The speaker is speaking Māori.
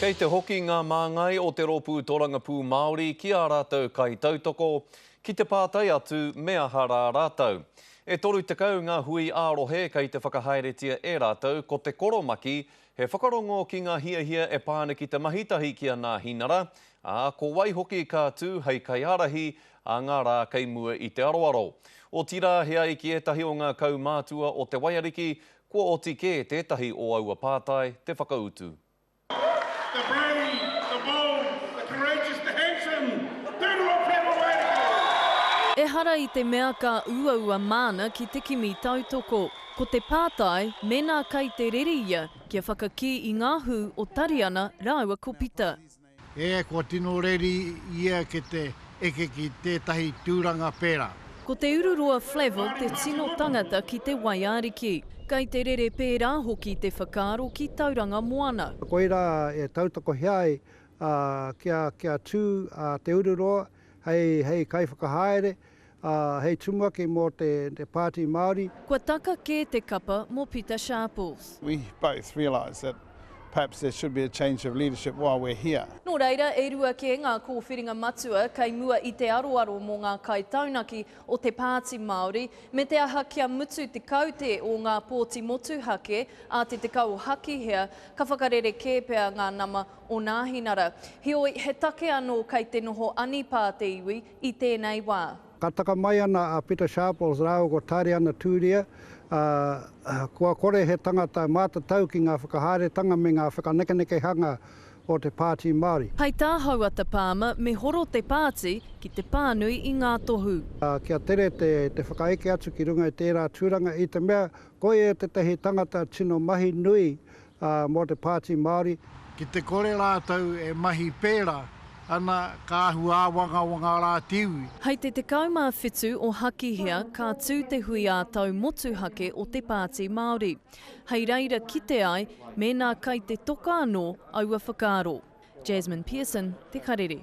Kei te hoki ngā māngai o te Rōpū Tōrangapū Māori ki ā rātou kaitautoko ki te pātai atu me aha rā rātou. E 30 ngā hui ā-rohe kei te whakahaeretia e rātou ko Te Koromaki, he whakarongo ki ngā hiahia e pā ana ki te mahi tahi ki a Nāhinara, ā, ko wai hoki ka tū hei kaiārahi ā ngā rā kei mua i te aroaro. Otirā, he ai ki ētahi o ngā kaumātua o Te Waiariki, Kua oti kē tētahi o aua pātai te whakautu. The brave, the bold, the courageous, the handsome, Tūrua Pēnga Waireke! Ehara i te mea ka uaua māna ki te kimi tautoko. Ko te pātai, mēnā kai te rere ia kia whakakī i ngā hū o Tariana rāua ko Pita. E, kua tino reri ia ki te eke ki tētahi tūranga pērā. Ko Te Ururoa Flavell te tino tangata ki te waiariki. Kei te rere pērā hoki te whakaaro ki Tauranga Moana. Koirā e tautakohia ai kia tū a Te Ururoa. hei kaiwhakahaere, ā, hei tumuaki mō te Pāti Māori. Kua taka kē te kapa mō Pita Sharples. We both realise that perhaps there should be a change of leadership while we're here. Nō reira, e rua kē ngā kōwhiringa matua kei mua i te aroaro mō ngā kaitaunaki o te Pāti Māori, me te aha kia mutu te kaute o ngā pōti motuhake a te tekau o Hakihea, ka whakarerekē pea ngā nama o Nāhinara. Heoi, he take anō kei te noho anipā te iwi i tēnei wā. Ka taka mai ana a Pita Sharples rāua ko Tāriana Tūria, ā, kua kore he tangata mātatau ki ngā whakahaeretanga me ngā whakanekenekehanga o te Pāti Māori. Hei tā Houata Palmer me horo te pāti ki te pānui i ngā tohu. Ā, kia tere te whakaeke atu ki runga i tērā tūranga i te mea, koia tētahi tangata tino mahi nui ā, mō te Pāti Māori. Ki te kore rātou e mahi pērā ana ka ahu āwangawanga rā te iwi. Hei te 17 o Hakihea ka tū te hui ā-tau motuhake o te Pāti Māori. Hei reira kite ai mēnā kai te toka anō aua whakaaro. Jasmine Pearson, Te Karere.